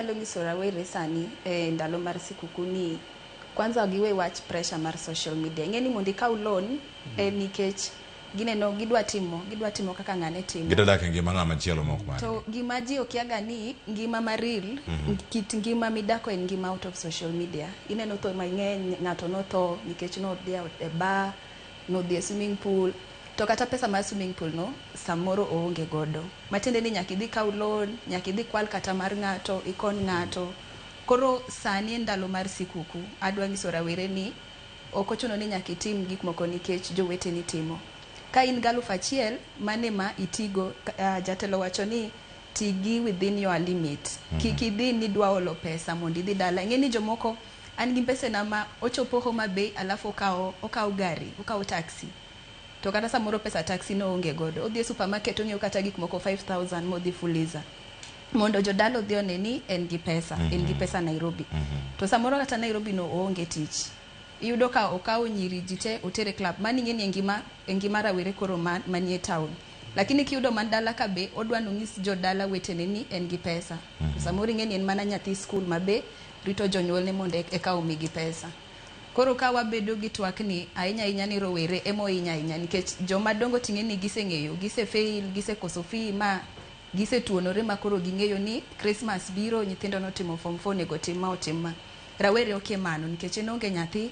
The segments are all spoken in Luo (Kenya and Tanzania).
anyalo nyiso rawere sani e ndalo mar sikuku ni kwanza giwe wach pressure mar social media ing'e ni mondo ikaw loan eh, nikech gineno gidwa timo gidwa timo kaka ng'ane timo Gidwa dak e ngima ng'ama chielo mok mare. to gima ji okiaga ni ngima ma real Mhm. kit ngima midako en ngima out of social media ineno tho mang'eny ng'ato notho nikech nodhi e bar nodhi e swimming pool To kata pesa mar swimming pool no samoro oonge godo. Matiende ni nyaka idhi ikaw loan, nyaka idhi ikwal kata mar ng'ato, ikony ng'ato. Koro sani en ndalo mar sikuku, adwa nyiso rawere ni ok ochuno ni nyaka itim gik moko nikech joweteni timo. Ka in gi alufu achiel, mano ema itigo. Jatelo owacho ni ti gi within your limit. Kik idhi ni idwa olo pesa mondo idhi dala. Ing'e ni jomoko an gi mbesena ma ochopo Homa Bay alafu okawo okawo gari, okawo taxi. to kata samoro pesa taxi no oonge godo, odhi e supermarket ong'iew kata gik moko 5000 modhi fuliza mondo jodala odhi one ni en gi pesa, mm -hmm. en gi mhm. pesa Nairobi. Mm -hmm. To samoro kata Nairobi no oonge tich. Iyudo ka okawo nyiri ji te otere club, mani ng'eni e ngima, e ngima rawere koro man, manie town. Lakini kiyudo man dala ka be odwa nonyis jodala wetene ni en gi pesa. Mm -hmm. Samoro ing'eni en mana nyathi skul ma be rito jonyuolne mondo eka omigi pesa. Koro ka wabedo gi twak ni, ahinya ahinya ni rowere ema ohinya ahinya nikech joma dongo ting'e ni gise ng'eyo, gise fail, gise koso fee ma gise tuonore ma koro ging'eyo ni Christmas biro, nyithindo ne otimo form four onego otim ma otim ma. Rawere okia mano nikech en oonge nyathi,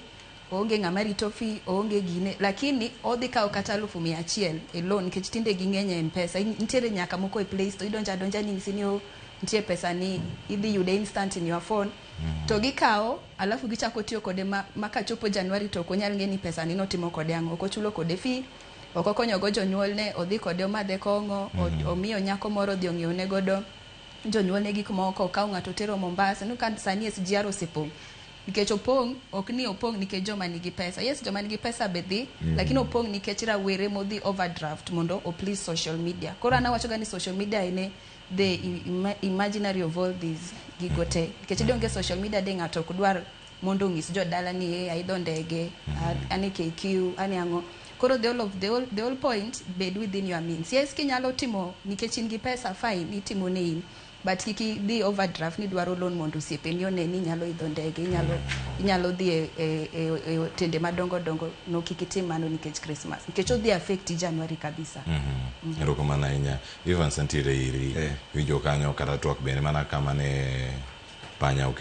oonge ng'ama rito fee, oonge gine lakini odhi kawo kata alufu mia achiel e loan nikech tinde ging'eny e Mpesa, in nitiere nyaka moko e playstore, idonjo adonja ni inyisi ni oh nitie pesa ni idhi yude instant in your phone. mm. to gikawo alafu gichako tiyo kode ma, ma kachopo Januari to ok onyal ng'e ni pesa ni notimo kode ang'o, ok ochulo kode fee ok okonyogo jonyuolne, odhi kode omadhe kong'o, mm -hmm. omiyo nyako moro odhi ong'iewne godo jonyuolne gik moko, okawo ng'ato otero Mombasa, no ka sani SGR osepong' nikech opong' ok ni opong' nikech joma nigi pesa yes joma nigi pesa be dhi mm -hmm. lakini opong' nikech rawere modhi overdraft mondo o please social media koro an awachoga ni social media ene the imaginary of all these gigo te nikech idonge social media de ng'ato ok dwar mondo ong'is jodala ni e aidho ndege ane KQ ane ang'o koro the all of the all, the all point bed within your means yes kinyalo timo nikech in gi pesa fine itimo ne in but kik idhi overdraft ni dwaro loan mondo osiepeni one ni inyalo idho ndege inyalo inyalo dhi e, e, e, e otende madongo dongo no kik itim mano nikech Christmas nikech odhi affect January kabisa. Mm -hmm. Mm -hmm. Evans nitiere iri. Winjo kanyo kata twak bende mana kama ne panya oketo.